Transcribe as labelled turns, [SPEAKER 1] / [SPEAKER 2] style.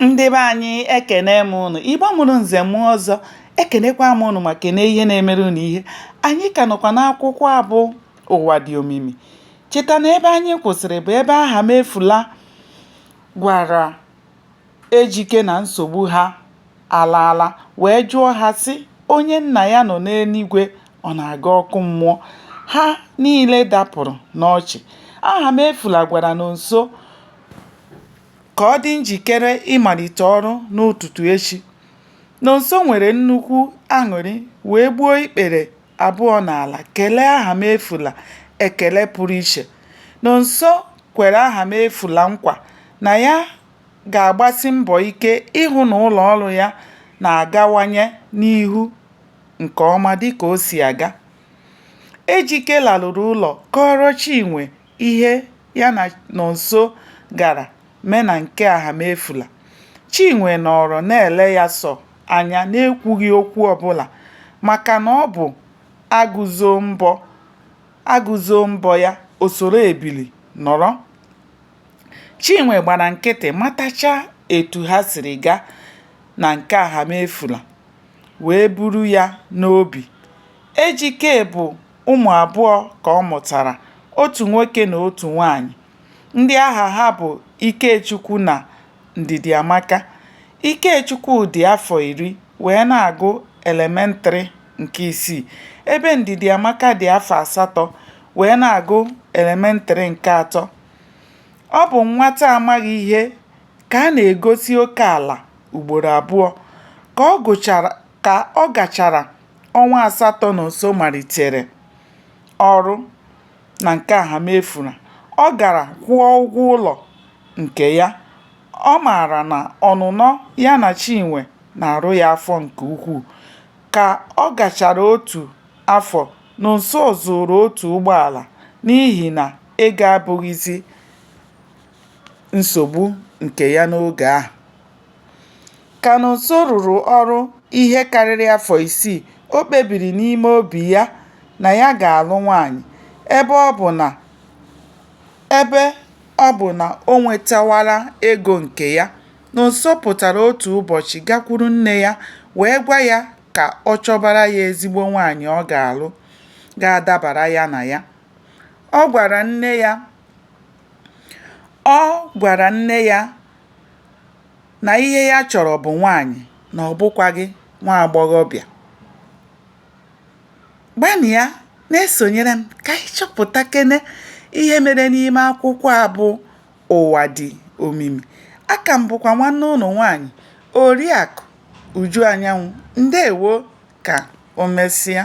[SPEAKER 1] ndị be anyị ekene m ụnụ igbo mụrụ nze mụọ ọzọ ekenekwa m ụnụ ma kene ihe na-emere ụnụ ihe anyị ka nọkwa n'akwụkwọ a bụ ụwa dị omimi cheta na ebe anyị kwụsịrị bụ ebe ahamefula gwara ejike na nsogbu ha alaala wee jụọ ha sị onye nna ya nọ n'eluigwe ọ na-aga ọkụ mmụọ ha niile dapụrụ n'ọchị ahamefula gwara nonso ka ọ dị njikere ịmalite ọrụ n'ụtụtụ echi. Nonso nwere nnukwu aṅụrị wee gbuo ikpere abụọ n'ala kelee Ahamefula ekele pụrụ iche. Nonso kwere Ahamefula nkwa na ya ga-agbasi mbọ ike ịhụ na ụlọ ọrụ ya na-agawanye n'ihu nke ọma dịka o si aga. Ejike laruru ụlọ kọọrọ Chinwe ihe ya na Nonso gara mee na nke Ahamefula, Chinwe nọọrọ na-ele ya sọ anya n'ekwughị okwu ọbụla maka na ọ bụ agụ zoo mbọ ya, o soro ebili nọrọ. Chinwe gbara nkịtị matachaa etu ha siri gaa na nke Ahamefula wee buru ya n'obi. Ejike bụ Ụmụ abụọ ka ọ mụtara, otu nwoke na otu nwaanyị, ndị aha ha bụ Ikechukwu na Ndidiamaka. Ikechukwu dị afọ iri wee na-agụ elementrị nke isii ebe Ndidiamaka dị afọ asatọ wee na-agụ elementrị nke atọ. Ọ bụ nwata amaghị ihe ka a na-egosi oke ala ugboro abụọ. Ka ọ gachara ọnwa asatọ Nonso malitere ọrụ na nke Ahamefula, ọ gara kwụọ ụgwọ ụlọ nke ya. Ọ maara na ọnụnọ ya na Chinwe na-arụ ya afọ nke ukwuu. Ka ọ gachara otu afọ, Nonso zụụrụ otu ụgbọala n'ihi na ego abụghịzi nsogbu nke ya n'oge ahụ. Ka Nonso rụrụ ọrụ ihe karịrị afọ isii, o kpebiri n'ime obi ya na ya ga-alụ nwaanyị. Ebe ọ bụ na o nwetawala ego nke ya, Nonso pụtara otu ụbọchị gakwuru nne ya wee gwa ya ka ọ chọbara ya ezigbo nwaanyị ọ ga-alụ ga-adabara ya na ya. Ọ gwara nne ya na ihe ya chọrọ bụ nwaanyị na ọ bụkwaghị nwa agbọghọbịa. Gbanịa na-esonyere m ka anyị chọpụtakene ihe mere n'ime akwụkwọ a bụ Ụwa Dị Omimi. Aka m bụkwa nwanne ụnụ nwaanyị Oriakụ Uju Anyanwụ. Ndewo ka o mesịa.